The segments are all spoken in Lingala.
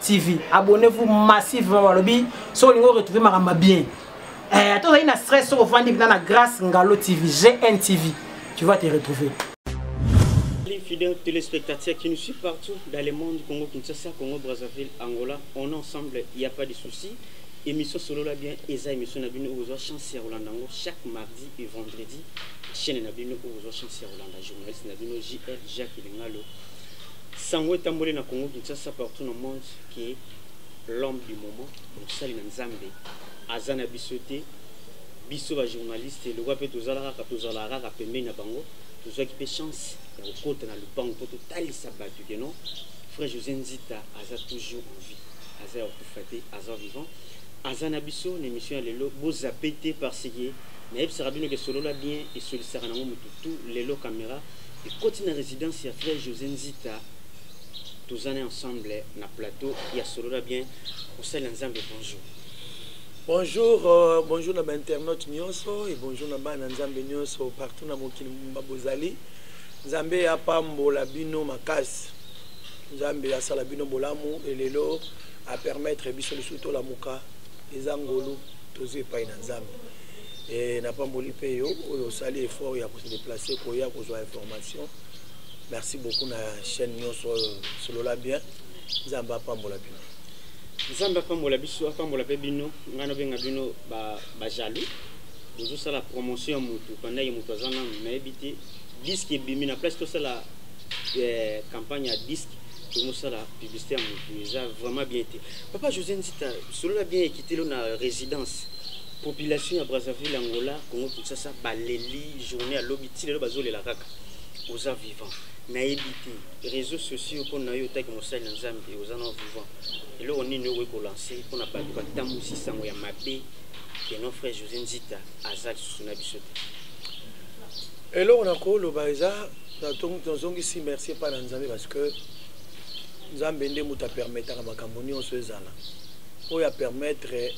TV. Abonnez-vous massivement balobi so lingo retrouver makamba bien. Eh ato na stress au vandi na grâce Ngalo TV, GN TV. Tu vas te retrouver. Fidèles téléspectateurs qui nous suivent partout dans le monde, Congo, Kinshasa, Congo, Brazzaville, Angola, on est ensemble, il n'y a pas de souci. Émission solo la bien, Eza émission na bino ozo chance ya Rolanda chaque mardi et vendredi. Chaîne na bino ozo chance ya Rolanda journaliste na bino JL Jacques Lingalo. Sango etamboli na Congo Kinshasa partout na monde que l'homme du moment mosali na Nzambe aza na biso te biso ba journaliste lokwa mpe tozalaka kaka tozalaka kaka pembeni na bango tozwaki mpe chance ya kokota na lupango mpo totalisa bato ke non frère José Nzita aza toujours en vie aza ya kokufa te aza vivant aza na biso na émission ya lelo bozape te parce que nayebisaka bino ke solola bien esolisaka nango motu tout lelo caméra ekoti na residence ya frère josé nzita tozana ensemble na plateau ya solola bien kosalela nzambe bonjour bonjour euh, bonjour na bainternaute nyonso e bonjour na bana nzambe nyonso partout na mokili mumba bozali nzambe apambola bino makasi nzambe asala bino bolamu elelo apermettre biso lisusu tolamuka eza ngolu tozwi epai na nzambe e napamboli mpe yo oyo osali effort ya déplacer koya kozwa information merci beaucoup na chaîne nyonso oyo solola bien nzambe apambola bino nzambe apambola biso apambola mpe bino ngai nabenga bino bajaloux bozosala promotion ya motu pandaki motu aza nanu nayebi te diske ebimi na place tosala eh, campagne ya diske tomosala publicité ya motu eza vraiment bien te papa josé nzita solola bien ekitelo na résidence Population ya Brazzaville, Angola, Congo Kinshasa baleli journée ya lobi ti lelo bazolela kaka. Oza vivant. Nayebi te réseaux sociaux mpo na yo otaki mosali na Nzambe oza na vivant. Eloko nini okoki kolancer mpo na bato batambwisi sango ya mabe que non frère José Nzita aza lisusu na biso te. Eloko nakoloba eza nazongisi merci epai na Nzambe parce que nzambe nde moto apermetaka makambo nyonso ezala oyo apermettre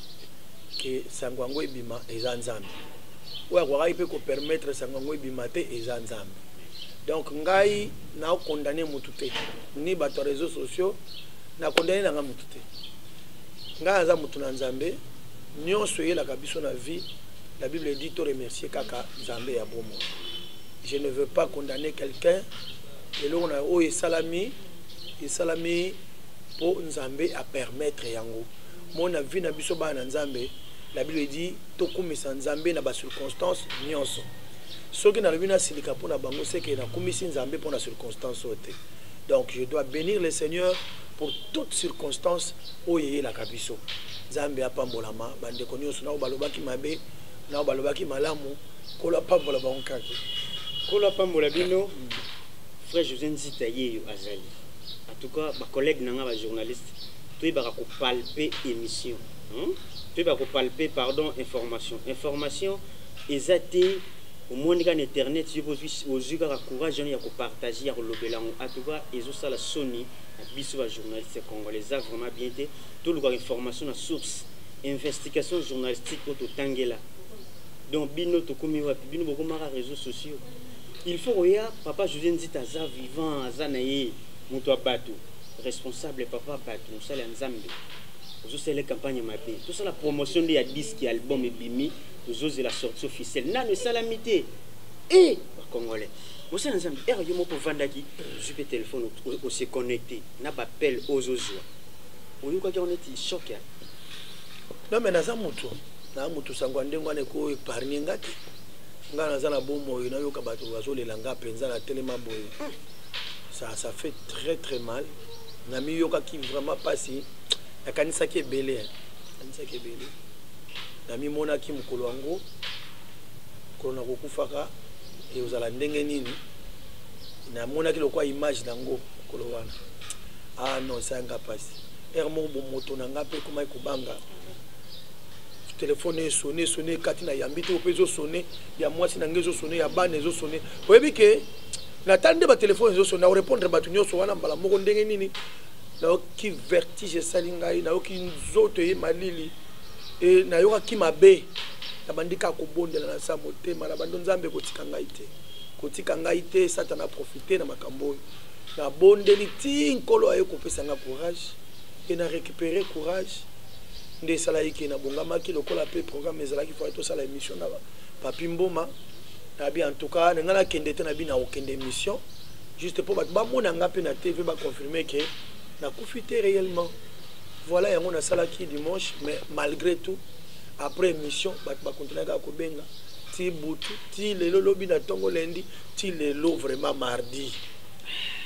ke sango yango ebima eza nzambe oyo akokaki mpe kopermettre sango yango ebima te eza nzambe donc ngai naokondane motu te ni bato ya réseau sociaux nakondane na ngai motu te ngai aza motu na nzambe nyonso eyelaka biso na vie la bible dit to remercier kaka nzambe ya bomoi je ne veux pas condamner quelqu'un eloko na oyo esalami esalami mpo nzambe apermettre yango Mon na vie na biso bana na Nzambe, la Bible dit tokumisa Nzambe na ba circonstances nyonso. Soki nalobi nasilika mpo na bango seke nakumisi Nzambe mpo na circonstance oyo te. Donc je dois benir le Seigneur pour toute circonstance oyo eyelaka biso. Nzambe apambolama bandeko nyonso nao balobaki mabe nao balobaki malamu nkolo apambola bango kaki nkolo apambola bino frère José Nzita yeyo azali en tout cas ba collègues na nga ba journalistes toyebaka ko palper emission hein? toyebaka ko palper pardon information information eza te omoni kaka na internet yo ozwi kaka courage wana ya kopartage ya kolobela yango atuka ezosala soni na biso bajournaliste congolais eza vraiment bien te tolukaka information na source investigation journalistique oyo totangela donc bino tokomi wapi bino bokomaka réseaux sociaux il faut koya papa josé nzita aza vivant aza na ye moto ya bato responsable papa batu mosali ya nzambe ozosala campagne mabe tosala promotion nde ya disque ya album ebimi tozozela sortie officielle nano esalami te e eh, bacongolais mosala nzambe ere yo moko ovandaki ozwi mpe telefone ose connecte na bapel ozozwa oyokaki yango neti shok ya non me naza moto naza moto sango ya ndenge wana eko epargne nga te nga naza na bomoi nayoka bato bazolela nga mpenza na telema boye ça ça fait très très mal namiyokaki vraiment mpasi nakanisaki ebele nakanisaki ebele namimonaki mokolo yango mokolo na kokufaka ekozala ndenge nini namonaki lokwa image nango mokolo wana ah non esanga mpasi ere moko bomoto na ngai mpe ekomaki kobanga telefone esone esone ekati na yambi te oyo mpe ezosone ya mwasi na ngai ezosone ya bana ezosone oyebi ke natali nde batelefone ezo sona orepondre bato nyonso wana mbala moko ndenge nini nayoki vertige esali ngai nayoki nzoto eye malili e nayokaki mabe nabandi kaka kobondela na sa motema na bando nzambe kotika ngai te kotika ngai te satana aprofite na makambo oyo nabondeli ti nkolo aye kopesa ngai courage e na récupere courage nde esalaki ke nabongamaki lokola mpe programme ezalaki fai tosala émission na papi mboma nabi en tout cas na ngai nakende te nabi nakokende émission juste mpo bato bamona ngai mpe na tv baconfirme ke nakufi te réellement voilà yango nasalaki dimanche mais malgré tout après émission bato bakontinue kaka kobenga ti butu ti lelo lobi na ntongo lendi ti lelo vraiment mardi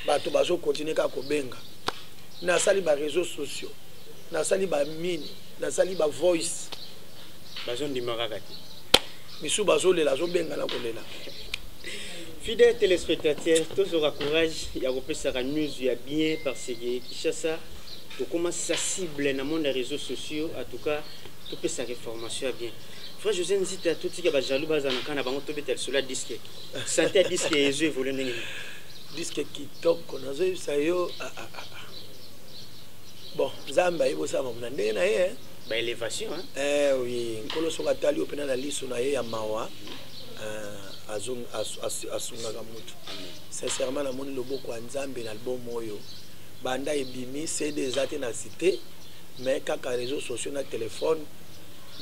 bato bazokontinue kaka kobenga nasali baréseau sociaux nasali bamini nasali bavoice bazondima kaka te misu bazolela azobenga na kolela fidèle téléspectateur tozwaka courage ya kopesaka news ya bien parce que kinshasa tokoma sensible na monde ya réseaux sociaux en tout cas topesaka information ya bien frère josé nzita totika bajaloux baza na kana bango tobeta lisolo ya diske sante ya diske ezo evole ndenge nini diske kitoko nazoyebisa yo ah, ah, ah, bon nzambe ayebosama mona ndenge na ye ba elevation hein eh oui nkolo soki atali yo pena na liso na ye ya mawa eh, asungaka mutu sincèrement namoni loboko ya nzambe na album oyo banda ebimi cd eza te na site mais kaka réseau sociaux na telefone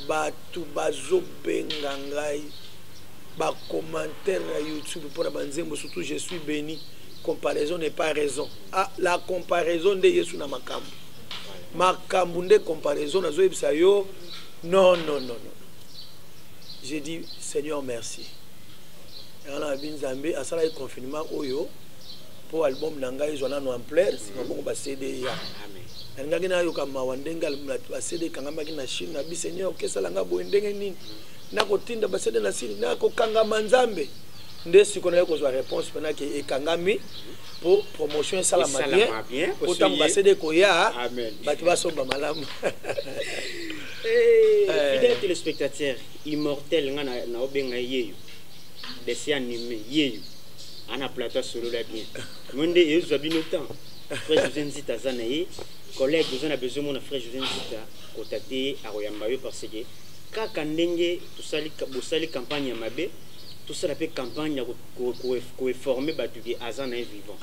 bato bazobenga ngai bacommentaire ya youtube mpona banzembo surtout je suis béni comparaison n'est pas raison ah, la comparaison nde yesu na makambo makambo nde comparaison nazoyebisa yo non non non non j'ai dit seigneur merci yango na bi nzambe asalaki confinement oyo mpo album na ngai ezwa nano ampleur nsima bongo bacd ya nalingaki nayoka mawa ndenge bacd ekangamaki na chine na bi seigneur okesala ngai boye ndenge nini nakotinda bacd na sini nakokangama nzambe nde siko naye kozwa réponse mpenaki ekangami po promotion esalama bien po ntango basede ekoya bato basomba malamu eh, eh. fidèle téléspectateur immortel nga naobenga yeyo desi anime yeyo ana plateau asolola bien mo nde ezwa bino temps frère josé nzita aza na ye collègue oza na besoin mona frère josé nzita kotate ye akoyamba yo parce que kaka ndenge bosali campagne ya mabe tosala mpe campagne ya ko informer batu ke aza na ye vivant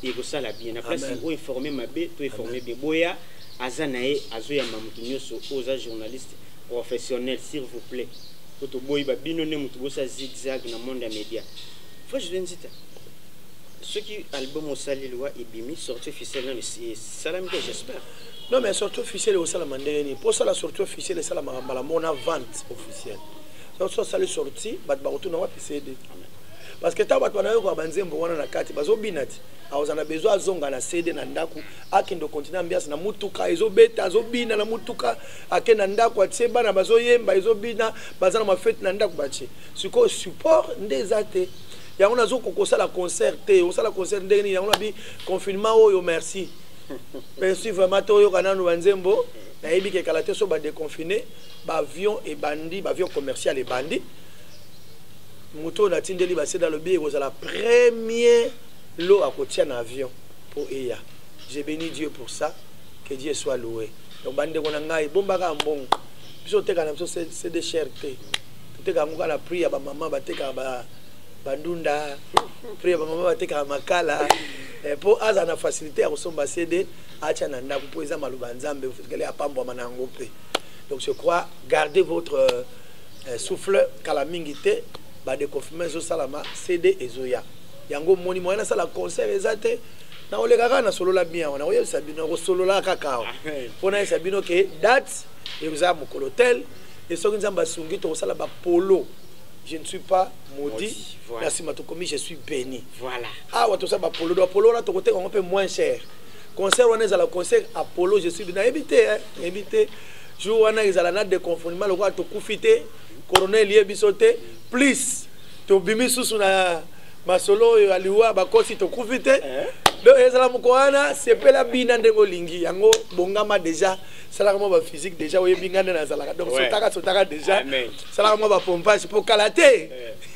et ko sala bien na place o informer mabe to informer bien boya aza na ye azo yamba mutu nyoso oza journaliste professionnel s'il vous plaît ko to boyi ba bino ne mutu bosa zigzag na monde ya media faut je viens dire soki album osali liwa ebimi sorti officiel nano esalami te j'espère non mais sorti officiel ekosalama ndenge nini mpo osala sorti officiel esalamaka mbala mona vente officielle soki osali sorti bato bakotuna wapi cd parce que ntango bato banayokola banzembo wana na kati bazobina ti aoza na besoin azonga na cd na ndako akende okontinue ambiance na motuka ezobeta azobina na motuka ake na ndako atie bana bazoyemba ezobina baza na mafete na ndako batie sikoyo support nde eza te yango nazokoka kosala concert te osala concert ndenge nini yango nabi confinement oyo merci merci vraiment toyoka nanu banzembo nayebi kekala te so badeconfine baavion ebandi baavion commercial ebandi moto oyo natindeli baseda alobi ekozala premier lo akotia na avion mpo eya je béni dieu pour ça que dieu soit loué donc bandeko na ngai bombaka mbongo biso oteka na biso cd cher te toteka yango kaka na prix ya bamama batekaka ba, bandunda prix ya bamama batekaka makala eh, mpo azala na facilité ya kosomba cd atya na ndako mpo eza maloba ya nzambe kele apambwama na yango mpe donc je crois gardez votre euh, eh, souffle kala mingi te ba deconfinement ezosalama cd ezoya yango moni moyen nasala concert eza te nakoleka kaka nasolola bien awa nakoyebisa bino nakosolola kaka awa mpo nayebisa bino ke date ekozala mokolo tel e soki nzambe asungi tokosala bapolo je ne suis pas maudit voilà. na nsima tokomi je suis béni voilà. awa toza bapolo do apolo wana tokoteka yango mpe moins cher concert wana ezala concert apolo je suis nayebi te nayebi te jour wana ezala na deconfinement lokola tokufi te corona elie biso te plus tobimi susu na masolo oyo ya liwa bakosi tokufi te eh? donc ezala moko wana sepela bina ndenge olingi yango bongama déjà salaka mwa baphysique déjà oyebi ngai nde nazalaka donc sotaka sotaka déjà salaka mwa bapompage mpo kala te eh.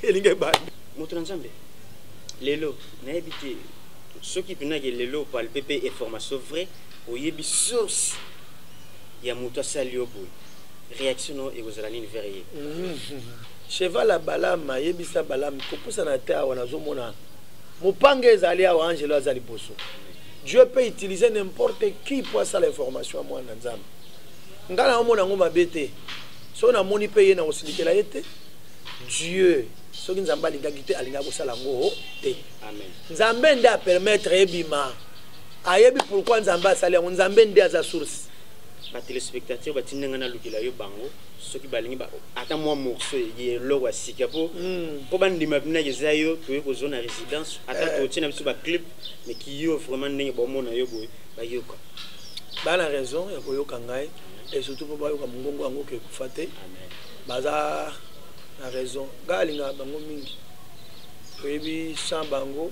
elingi ebanda moto na nzambe lelo nayebi te soki mpenake lelo opalpe mpe information vrai oyebi source ya mutu asali yo boye reaction no ekozala nini vers ye cheval ya balam ayebisa balam kopusana te awa nazomona mopanga ezali awa angelo aza liboso dieu peut utiliser n'importe qui mpo asala information ya mwana nzambe ngai naomona yango mabe te soki namoni mpe ye nakosilikela ye te dieu soki nzambe alingaki te alingaki kosala yango te nzambe nde apermettre ebima ayebi pourquoi nzambe asali yango nzambe nde aza source batelespectateur batinda ngai nalukela yo bango soki balingi ata mwa morceau ye eloko ya sika mpo hmm. mpo bandima binaki eza yo toye kozwa na résidence ata eh. totie na biso baclip mais kiyo vraiment ndenge baomona yo boye bayoka baa na raison ya koyoka ngai et surtout mpo bayoka mongongo yango kekufa te baza na raison ngai alingaka bango mingi oyebi sans bango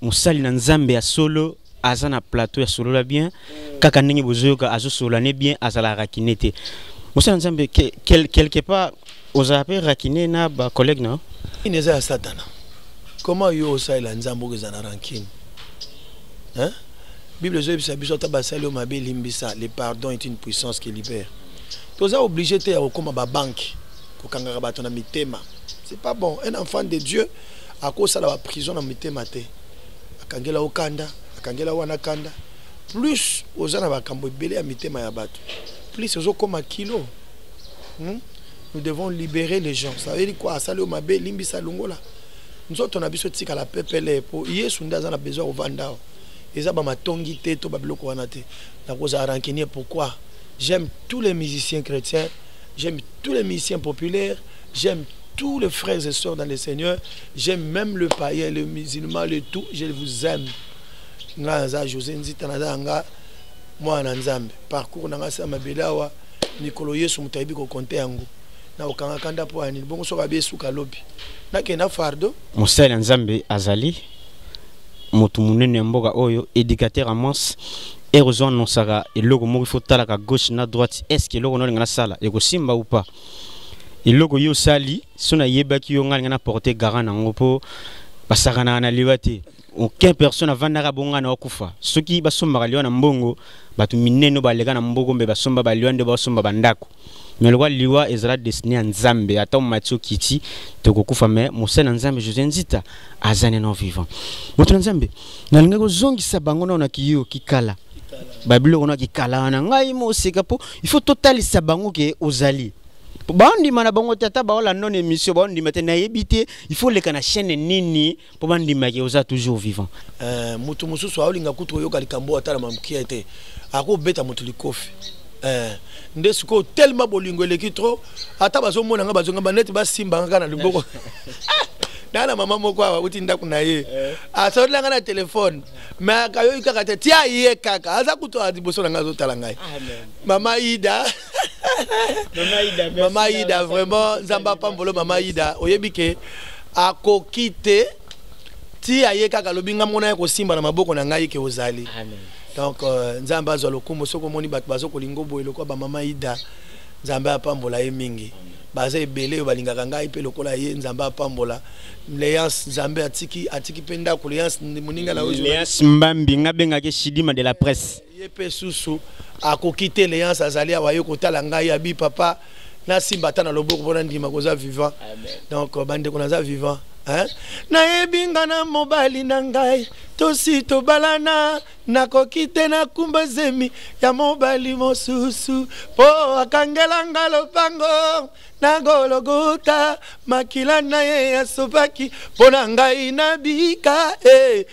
mosali na nzambe ya solo aza na plateau ya solola bien kaka ndenge bozoyoka azosolola ne bien azala rakine te mosali na nzambe quelque part ozala mpe rakine na bacollègue na ine eza ya satana comment yo osalela nzambe oko eza na rankine hein? bible ezoyebisa biso ata basali yo mabe limbisa le pardon est une puissance qui libère toza oblige te ya kokóma babanke kokangaka bato na mitema c'est pas bon un enfant de dieu akosala ba prison na mitema te akangela yo kanda akangela wana kanda plus oza na bakambo ebele ya mitema ya bato plus ozokoma kilo hmm? nous devons libérer les gens ça veut dire quoi asali yo mabe limbisa longola nzoto na biso etikala pepele mpo yesu nde aza na besoin ya kovanda awa eza bamatongi te to babiloko wana te nakozala rancunier pourquoi j'aime tous les musiciens chrétiens J'aime tous les musiciens populaires, j'aime tous les frères et sœurs dans le Seigneur, j'aime même le païen, le musulman, le tout, je vous aime. Nga naza José Nzita naza nga mwana Nzambe. Parcours nanga sa mabelawa mikolo Yesu mutayibi ko compter yango. Na okanga kanda po ani bongo soka be suka lobi. Na kenda fardo. Mosala Nzambe azali motu munene ya mboka oyo éducateur à mons heure ozo annonsaka eloko moko ifo otalaka gauche na droite est ce que eloko naolinga nasala ekosimba ou pas eloko yo osali so nayebaki yo ngai alinga na porte garant nango mpo basakanaka na liwa te aucun personne avandaka bonga na okufa soki basombaka liwa na mbongo bato minene baleka na mboko mpe basomba baliwa nde basomba bandako mais lokola liwa ezala destiné ya nzambe ata omati okiti tokokufa mais mosali na nzambe josé nzita aza neno vivant moto na nzambe nalingaki kozongisa bango nao na kiyo kikala babiloko na kikala wana ngai moseka mpo il faut totalisa bango ke ozali baondima na bango te ata baolanda na émission baondima te nayebi te il faut leka na chaîne nini mpo bandimaki oza toujours vivant eh, moto mosusu aolinga kutu koyoka likambo oyo atala mamukia te akobeta moto likofi eh, nde sikoyo telema bolingo eleki trop ata bazomona nga bazongamba neti basimba nga kaka na liboko naa na mama moko awa auti ndako na ye eh. asololi nga na telefone me akayoki kaka te tia ye kaka aza kutu liboso na ngai azotala ngai mama ida mama ida vraiment nzambe apambolo mama ida oyebi ke akoki te ti aye kaka alobi ngai mona ya kosimba na maboko na ngai ke ozali donc euh, nzambe azwa lokumu soki omoni bato bazokolinga oboye lokola bamama ida nzambe apambola ye mingi baza ebele oyo balingaka ngai mpe lokola ye nzambe apambola leance nzambe atiki atiki mpe ndako leance moninga na oyo mbambi ngai bengaki shidima de la presse Ye pe susu akoki te leance azali awa ye kotala ngai abi papa nasimba ata na loboko mpo nandima koza vivant donc euh, bandeko naza vivant nayebi nga na mobali na ngai tosi tobalana nakoki te nakumba zemi ya mobali mosusu mpo akangela nga lopango na gologota makila na ye asopaki mpo na ngai nabika e eh.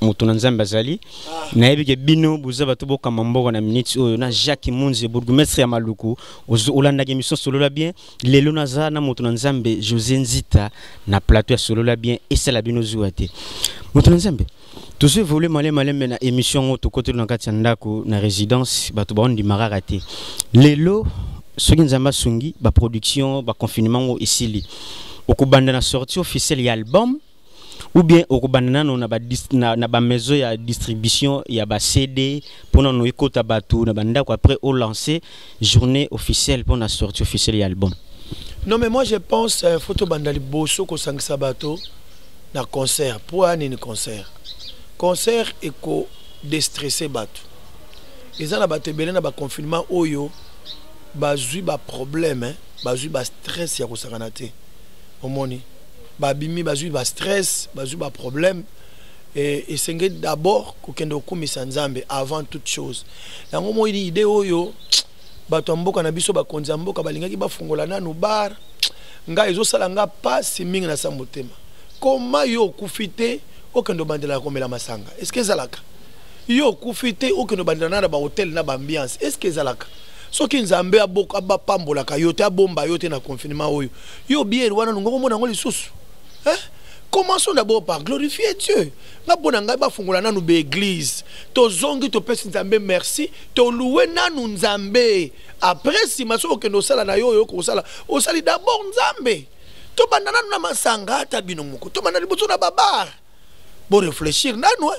moto na nzambe azali nayebi ke bino boza bato bokamba mboka na miniti oyo na jacques munzi bourgmestre ya maluku olandaki émission solola bien lelo naza na moto na nzambe josé nzita na plateau ya solola bien esala bino zuwa te moto na nzambe tozo évolue male malembe na émission yango tokoteli na kati ya ndako na résidence bato baondima kaka te lelo soki nzambe asungi baproduction baconfinement yango esili okobanda na sortie officielle ya album ou bien okobanda nano na ba na, na ba maison ya distribution ya ba CD mpo nano ekota bato na bandako après o lancer journée officielle mpo na sortie officielle ya album non mais moi je pense euh, faut tobanda liboso kosangisa bato na concert mpo aya nini concert concert eko destresse bato eza na bato ebele na baconfinement oyo bazwi baproblème eh? bazwi bastress ya kosangana te omoni babimi bazwi ba stress bazwi ba problème e, esengeli d'abord kokende kokumisa nzambe avant toute chose yango moi idée oyo bato ya mboka na biso bakonzi ya mboka balingaki bafungola nanu bar ngai ezosala ngai mpasi mingi na sa motema koma yo okufi te okende obandela komela masanga eske ezalaka yo okufi te okende obandela na na bahotel na baambiance eske ezalaka soki nzambe apambolaka yo te abomba yo te na confinement oyo yo biere wana nungo komona yango lisusu eh? commençons d'abord par glorifier dieu nga mpo na ngai bafungola nanu baeglize tozongi topesi nzambe merci toluwe nanu nzambe après nsima soki okende osala na yo oyo okosala osali d'abord nzambe tobanda nanu na masanga ata bino moko tobanda liboso na babar bo réfléchir nanu hein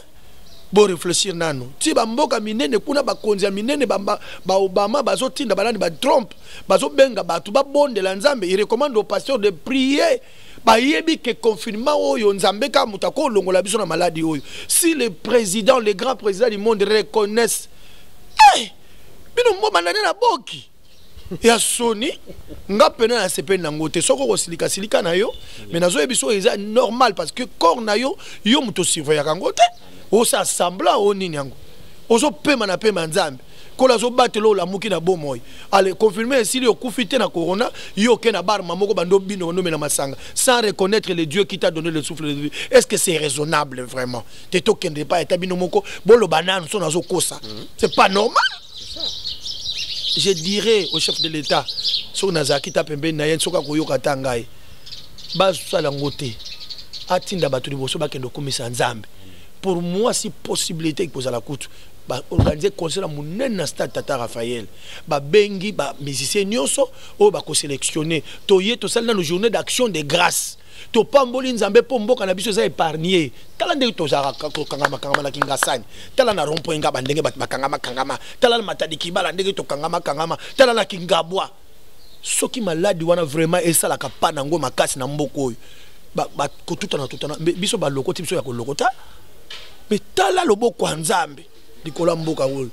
bo réfléchir nanu ti ba mboka minene kuna ba konzi ya minene ba, ba, ba Obama bazo tinda balani ba Trump bazo benga batu ba bonde la Nzambe il recommande au pasteur de prier bayebi ke confinement oyo nzambe kaka moto akolongola biso na maladi oyo si le président le grand président du monde reconnaisse hey! Eh, bino mbomanda nde na boki ya soni nga pena na sepeli na ngote soko ko silika silika na yo mais nazo yebiso eza normal parce que corps na yo yo moto surveiller ka ngote o sa semblant o nini yango ozo pema na pema nzambe kola azo batelo la muki na bomoy ale confirmer si yo kufi te na corona yo ke na bar mamoko bando bino no mena masanga sans reconnaître le dieu qui t'a donné le souffle de vie est-ce que c'est raisonnable vraiment te to kende pas eta bino moko bolo banane son azo kosa mm-hmm. c'est pas normal je dirais au chef de l'état soki nazalaki ta pembeni na ye soki akoyoka ata ngai basala yango te atinda bato liboso bakende kokumisa nzambe pour moi si possibilité ekozala kutu baorganize concert ya monene na stade tata raphael babengi bamusicien nyonso oyo bakoselectionne toye tosali nano journée d'action de grâce topamboli nzambe mpo mboka na biso eza épargne tala ndenge tozalaka kokangamakangama na kingasani tala na rompoint ngaba ndenge bato bakangamakangama tala na matadi kibala ndenge tokangamakangama tala na kingabwa soki maladi wana vraiment esalaka pa na yango makasi na mboka oyo kotutana tutana biso balokoti biso ya kolokota me tala loboko ya nzambe likolo ya mboka oyo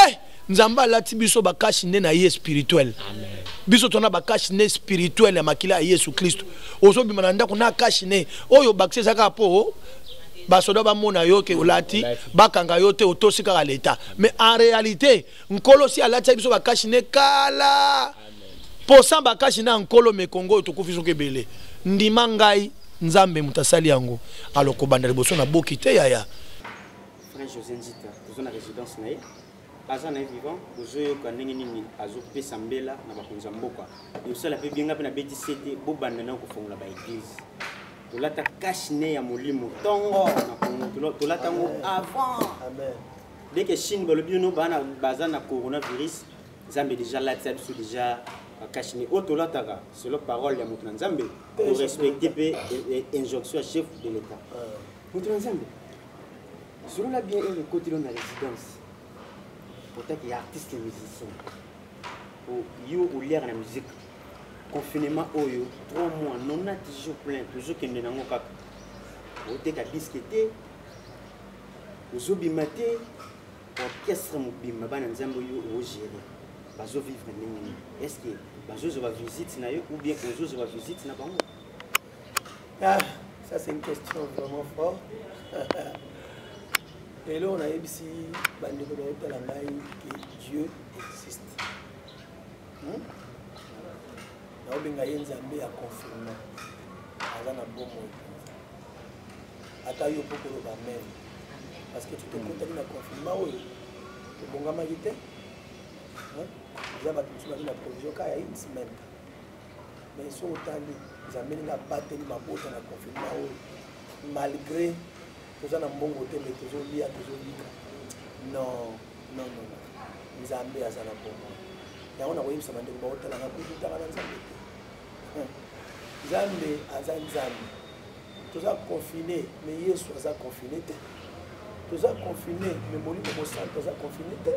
eh! nzambe alati biso bakashi nde na ye spirituel biso tona bakashi nde spirituel ya makila ya yesu kristo ozobima na ndako na kashi ne oyo bakisi eza kaka mpo basoda bamona yo ke olati bakanga yo te otosi kaka leta mais en réalité nkolo si alatisa biso bakashi ne kala posa bakashi na nkolo mekongo oyo tokufi soki ebele ndima ngai nzambe moto asali yango alokobanda liboso na boki te yaya Frère José Nzita, toza na résidence na ye. Aza na ye vivant, bozo yoka ndenge nini azo pesa mbela na bakonzi ya mboka. Yosala pe bien nga pe na beti sete bo banda na ko fongola ba église. Tolata cash ne ya molimo tongo na Congo tolata ngo avant. Amen. Dès que Chine balobi yo no bana baza na coronavirus, Zambe déjà là, ça biso déjà bakasi mais oyo tolataka selon parole ya moto na nzambe korespecte mpe injonction ya chef de l'état moto na nzambe solola bien ere ekoti lo na résidence otaki ya artiste musicien yo oliaka na musique confinement oyo 3 mois nona toujours plein tozokende nango kaka oteka diske te ozobima te orchestre mobimba bana nzambe oyo ogere bazovivre ndenge nini est ce que bazozwa bavisite na yo ou bien ozozwa bavisite na bango Ah, ça c'est une question vraiment fort. lelo nayebisi bandeko baotala ngai ke dieu existe hmm? naobenga ye nzambe ya confirme aza na bomoi ata yo mpo koloba meme parce que tokokotaki na confinement oyo tobongamaki te eza bato mosusu bazwi na provision ka ya une semaine mais soki otali nzambe ndenge abateli mabota na confinement oyo malgré toza na mbongo te me tozolia tozolika non non non nzambe aza na bongo yango nakoyebisa bandeko baotala nakokutaka na nzambe te hmm. nzambe aza nzambe toza confine me yesu aza confine te toza confine me molimo mosantu aza confine te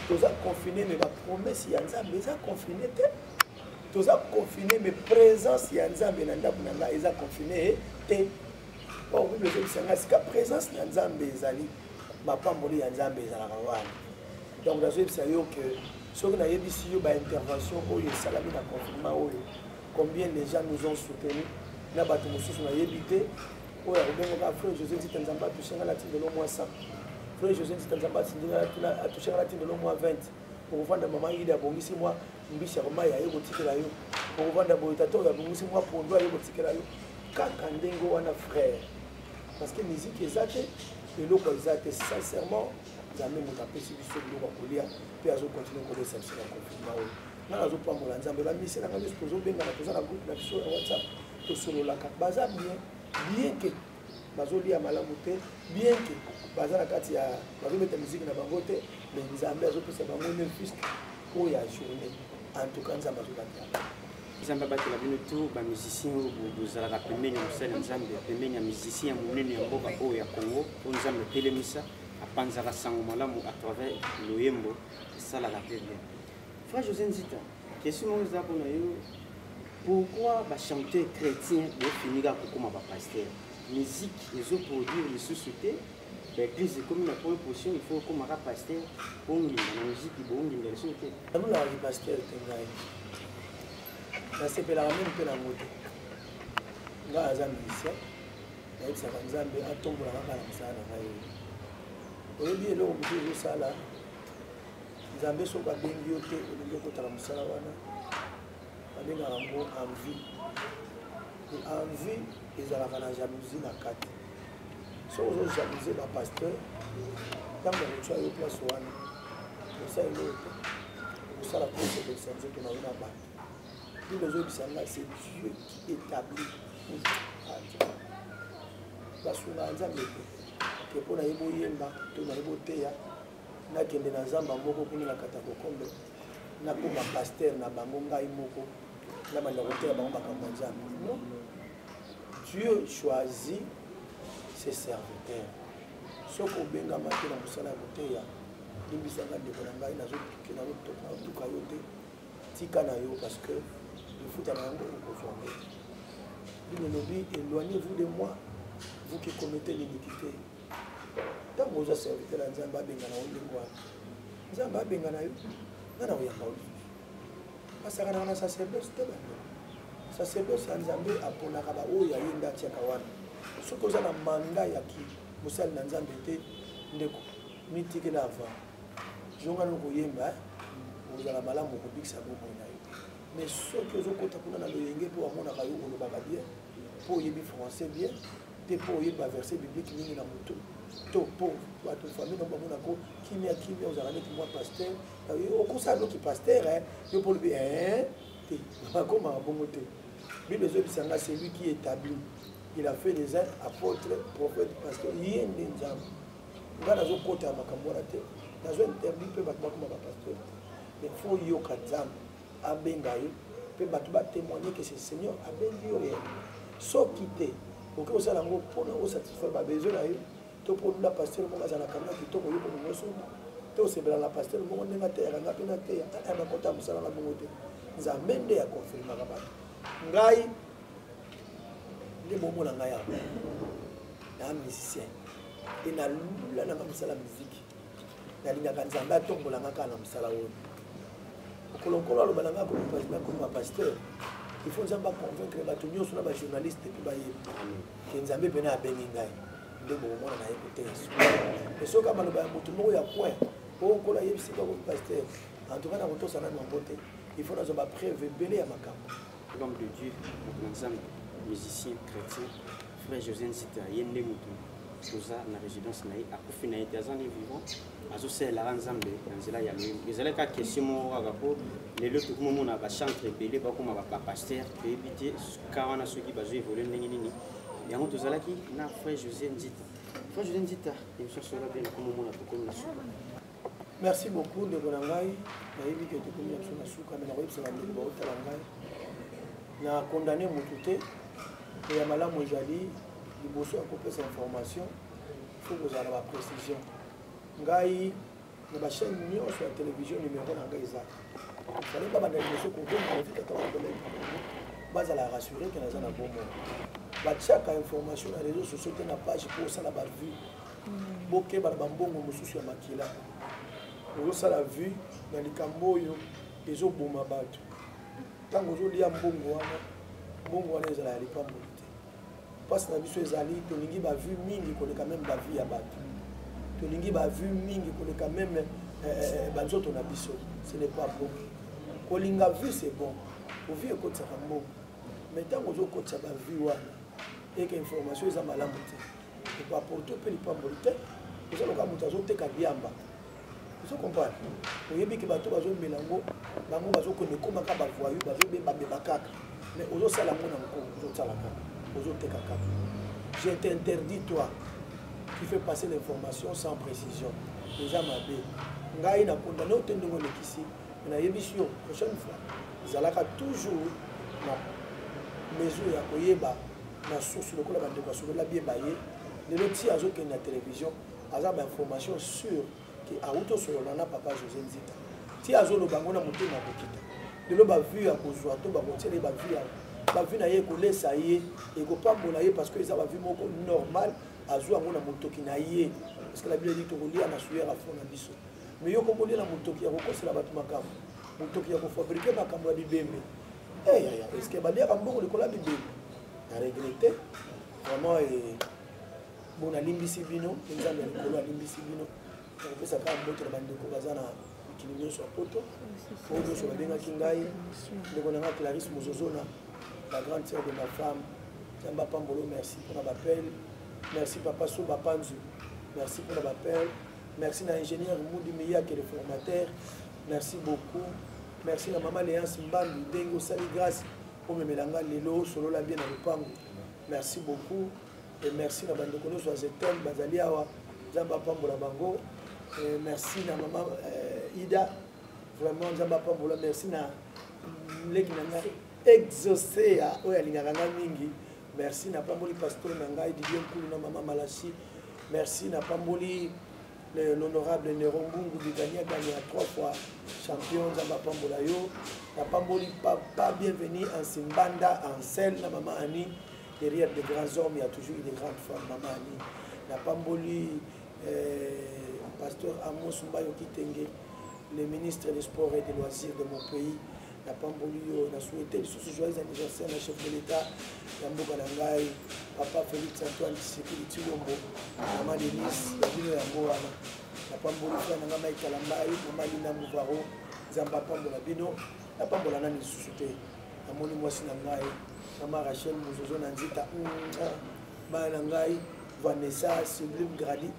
toza confine me bapromese ya nzambe eza confine te toza confine mais présence ya nzambe na ndako na ngai eza confine eh, te bakoki ozobisa ngai sika présence na nzambe ezali mapamboli ya nzambe ezalaka wana donc nazoyebisa yo ke soki nayebisi yo baintervention oyo esalami na confinement oyo combien les gens nous ont soutenu na bato mosusu nayebi te oyo akobengaka frère josé tita nzambe atushenga na tindelo mwa 100 frère josé tita nzambe atushenga na tindelo mwa 20 okovanda mama ida abongisi mwa mbisi ya komai aye kotikela yo okovanda boye tata oyo abongisi mwa pondo aye kotikela yo kaka ndenge wana frère parce que miziki eza te eloko eza te sincèrement nzambe moto apesi biso biloko ya kolia mpe azokontinue kolesa biso na konfirma oyo nga nazopambola nzambe bamisi na ngai nyonso tozobengana toza na groupe na biso ya whatsapp tosololaka baza bien bien ke bazolia malamu te bien ke baza na kati ya bazobeta miziki na bango te me nzambe azopesa bango ne fisk oyo ya journée en tout cas nzambe azobatela nzambe abatela bino to bamusicien oyo bozalaka pembeni ya mosali ya nzambe pembeni ya musicien ya monene ya mboka oyo ya congo oyo nzambe atelemisa apanzaka sango malamu à travers loyembo esalaka mpe bien Frère José Nzita, question moko eza mpona yo pourquoi bachanteur chrétien bofinika kokoma bapaster musique ezoproduire lisusu te baeglise ekomi na point position il faut okomaka paster bonginda na musique bonginda lisusu te nalulaka kipaster te ngai nasepelaka meme mpe nango te ngai aza musicien nayebisaka nzambe atombola kaka na mosala na ngai oyebi eloko mosusu ezosala nzambe soki abengi yo te olingi okotala mosala wana babengaka yango envie envie ezalaka na jalousie na kati soki ozojalousie bapasteur ntango akotya yo place wana osa eloko te okosala mpo osepelisa nzoto na yo na bato bino ozobisa ngai se dieu qui établi basungaa nzambe te ke mpo na ye boyemba to na ye boteya nakende na zamba moko kuna na kata kokombe nakoma paster na bango ngai moko na banda kotela bango makambo ya nzambe non dieu choisit ses serviteurs soki obengama te na mosala ya koteya limbisanga ndeko na ngai nazotuka yo te tika na yo parce que lifuta na yango okozwa ngo bino lobi éloignez vous de moi vous qui commettez l'iniquité ntango oza serviteur ya nzambe abengana yo ndenge wana nzambe abengana yo nga na koyamba yo lisusu basakanaka na sacerdoce te bando sacerdoce ya nzambe aponaka baoyo ya ye nde atiaka wana soki oza na manda ya ki mosali na nzambe te ndeko mitikela avant zongani okoyemba eh? ozala malamu okobikisa bomoi na yo mais soki ozokota kuna na loyenge mpo amonaka yo olobaka bien mpo oyebi français bien te mpo oyebi baverse biblike mingi na motu to mpo bato famille noko bamonako kimia kimia ozala neti mwa paster okosala noki paster eh, yo mpo olobi eh, te bakomaka bongo te bible ezobisa nga celui qui établi il a fait les uns apôtres prophète pasteur ye nde nzambe nga nazokota makambo wana te nazo interdit mpe bato bakoma bapasteur te mais fo yoka nzambe abenga yo mpe bato batémoigne ke se seigneur abengi yo ye soki te okoki kosala yango mpona osatisfaire babesoin na yo to mpo olula pasteur moko azala kanga kitoko yo mpe nyonso te osepela na pasteur moko ndenge ateyaka nga mpe nateya aa nakota mosala na bongo te nzambe nde akonfirmaka bato ngai nde bomona ngai yango na musicien mpe nalula nanga mosala miziki nalingaka nzambe atombola nga kaka na mosala oyo mokolo nkolo aloba na nga akoma pasteur il faut nzambe aconvaincre bato nyonso na bajournaliste mpe bayebi ke nzambe mpena abengi ngai nde bokomona na ye koteya suka mpe soki amaloba ya moto moko ya coin po nkolo ayebisi bango pasteur en tout cas nakotosa nanu yango te il faut nazwa bapreuve ebele ya makambo homme de dieu mokonzambe musicien chrétien frère josé nzita ye nde motu toza na résidence na ye akufi na ye te aza nde vivant azosalelaka nzambe na nzela ya loyembo ezalaki kaka question moko kaka mpo lelo tokoma omona bachantre ebele bakoma bapaster toyebi te ka wana soki bazo évolue ndenge nini yango tozalaki na frère josé nzita frère josé nzita émission solo bien nakoma omona tokomi na suka merci beaucoup ndeko na ngai nayebi ke tokomi na biso na suka me nakoyebisa bandeko baotala ngai na condamne motu te to ya malamu ezali liboso ya kopesa information fo kozala na baprécision ngai na bachaîne nyonso ya télévision numéro na ngai eza fale babanda liboso kokomavikaka bakolai bazala rassure ke naza na bomoi batiaka information na réseau sociaux te na page mpo osala bavue bokeba na bambongo mosusu ya makila ozosala vue na likambo oyo ezoboma bato ntango ozolia mbongo wana mbongo wana ezala ya lipamboli te mpasi na biso ezali tolingi bavue mingi koleka meme bavue ya bato tolingi bavue mingi koleka meme eh, eh, eh, banzoto na biso ce n'est pas bon kolinga vue c'est bon ovie ekotisaka mbongo mai ntango ozokotisa bavue wana eke information eza malamu te epaporte mpe lipamboli te oza loka moto azoteka biamba ozo comprendre oyebi ke bato bazomela yango bango bazokende ekomaka bavoyu bazobebabeba kaka mais ozosala yango na mokolo ozosala kaka ozoteka kaka je t'interdis toi qui fait passer l'information sans précision eza mabe ngai na kondane ote ndenge olekisi nayebisi yo prochaine fois zalaka toujours na mesure ya koyeba na source lokola bandeko ya solo labie baye lelo ti azokende na télévision aza bainformation sur ke awuti osolola na papa josé nzita ti azoloba yango na motema ya kokita lelo bavue ya kozwa to bakotiele bavue ya bavue na ye ekolesa ye ekopambola ye parce que eza bavue moko normal azwa yango na motoki na ye parce que labie elobi tokolia na suyer ya fond na biso mais yo komoni na motoki ya kokosela bato makambo motoki ya kofabrike makambo ya bibembe eh, yaya eske baliaka mbongo likolo ya bibembe na regrete vraiment eh, bo nalimbisi bino nzambe ya likolo alimbisi bino nakopesa kaka mboto na bandeko baza na mikili nyonso ya poto oyo nyonso babengaki ngai ndeko na ngai clarisse mozozona la grande sœur de ma femme nzambe apambolo merci mpona bapele merci papa so bapanzu merci mpona bapele merci na ingénieur mudi miyake le formateur merci beaucoup merci na mama léance mbambi ndenge osali grâce omemela nga lelo osolola bien na lopango merci beaucoup et merci na bandeko nyonso ya zetem bazali awa nzambe apambola bango merci na mama euh, ida vraiment nzambe apambola merci na leki na nga exaucea oyo alingaka nga mingi merci na pamboli pasteur na ngai didier nkulu na mama malasi merci na pamboli l'honorable nero mbungu bigania gania trois fois champion nzambe apambola yo na pamboli papa bienvenu ansimbanda ansel na mama ani derrière de grands hommes ya toujours une grande femme mama ani na pamboli euh, pasteur amos mbayo kitenge le ministre des sports et des loisirs de mon pays napamboli yo na souhaite lisusu joyeux anniversaire na chef de l'état ya mboka na ngai papa félix antoine tshisekedi tshilombo mama denise ya bino yango wana napamboli frère na ngai mai kalambai mama lina muvaro nzambe apambola bino napambola nani lisusu te namoni mwasi na ngai mama rachel mozozo na nzita bana na ngai vanessa sublime gradi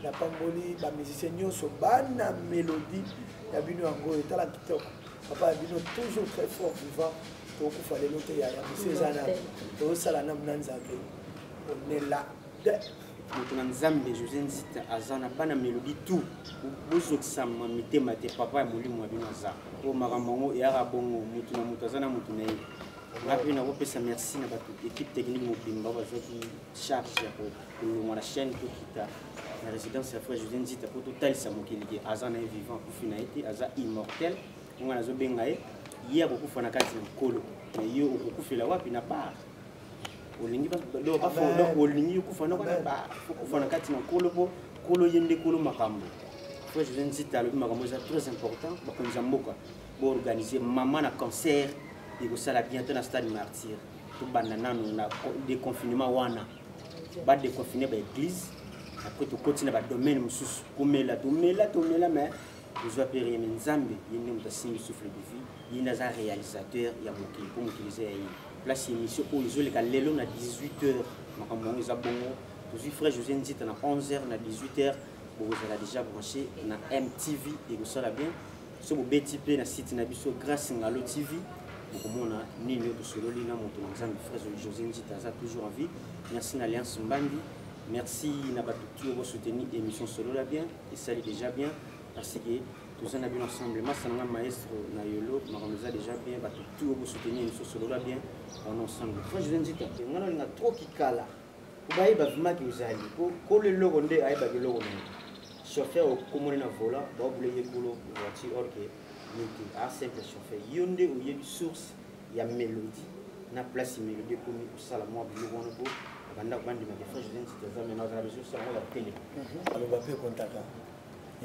napamboli ba musicien nyonso bana melodie ya bino yango etala kitoko papa ya bino toujours très fort vivant tokufa lelo te yaya misi eza nani tozosala namu na nzambe onela de moto na nzambe josé nzita aza na bana melodi tout bozokisama mitema te papa ya molimo ya bino aza oyo makambo yango eyaka bongo moto na moto aza na moto na ye nga mpe nakopesa merci na bato équipe technique mobimba bazwaki charge ya kolongwa na chaîne tokita na résidence ya frère josé nzita mpo totalisa mokili ke aza na ye vivant akufi na ye te aza immortel ngai nazobenga ye ye akokufa na kati ya nkolo me ye okokufela wapi na bar olingi olingi okufa noko na bar okufa na kati na nkolo mpo nkolo ye nde nkolo makambo frère josé nzita alobi makambo eza très important bakonzi ya mboka boorganize mama na cancer ekosala bientôt na stade martyre tobanda nanu na déconfinement wana badeconfine baeglise après tokoti na badomaine mosusu komela tomela tomela mais tozwa mpe rien me nzambe ye nde moto asimbi souffle de vie ye nde aza réalisateur ya mokili mpo mokili eza ya ye place ya émission oyo ezoleka lelo na 18 heures makambo yango eza bongo tozwi frère josé nzita na 11 heures na 18 heures bokozala déjà branché na mtv ekosala bien so bobeti mpe na site na biso grace ngalo tv bokomona nini oyo tosololi na moto na nzambe fraise josé njita aza toujours en vie merci na alliance mbandi merci na bato ti oyo bosoutenir émission solola bien esali déjà bien parce que toza na bino ensemble masa na nga maestro na yolo makambo eza déjà bien bato ti oyo bosoutenir émission solola bien on ensemble frère josé njita nga nalinga trop kikala obaye bavimaki ozali po kolo eloko nde ayebaki eloko na chauffeur okomoni na volant baobule ye kolo voiture or ke ye te a simple chauffeur yo nde oyebi source ya melodi na place melodi ekomi kosala mwa biloko wana po bandako bandimaka efrange oza ntiti aza mena ozala besosi yango ya tele mhm. aloba mpe kontaka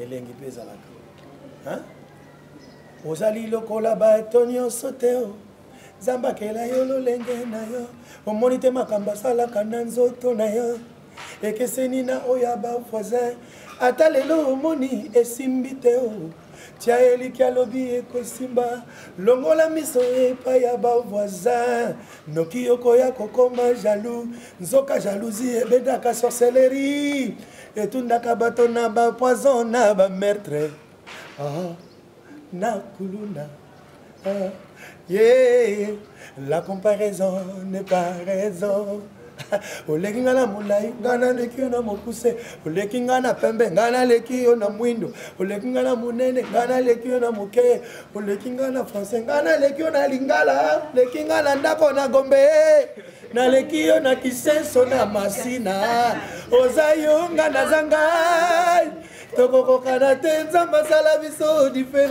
elengi mpe ezalaka ozali lokola bato nyonso te nzambe akela yo lolenge na yo omoni te makambo asalaka na nzoto na yo ekeseni na oyo ya bavoisin ata lelo omoni esimbi te o tya eliki alobi ekosimba longola miso epai ya bavoisin noki yokoya kokoma jalou nzoka jalousie ebedaka sorcellerie etundaka bato na bapoison na bamertre ah. na kuluna ah, yeah, la comparaison n'est pas raison oleki ngai na molai ngai naleki yo na mokuse oleki ngai na pembe ngai naleki yo na mwindo oleki ngai na monene ngai naleki yo na moke oleki ngai na français ngai naleki yo na lingala oleki ngai na ndako na gombe naleki yo na kisenso na masina oza yo ngai naza ngai tokokokana te nzambe asala biso diferent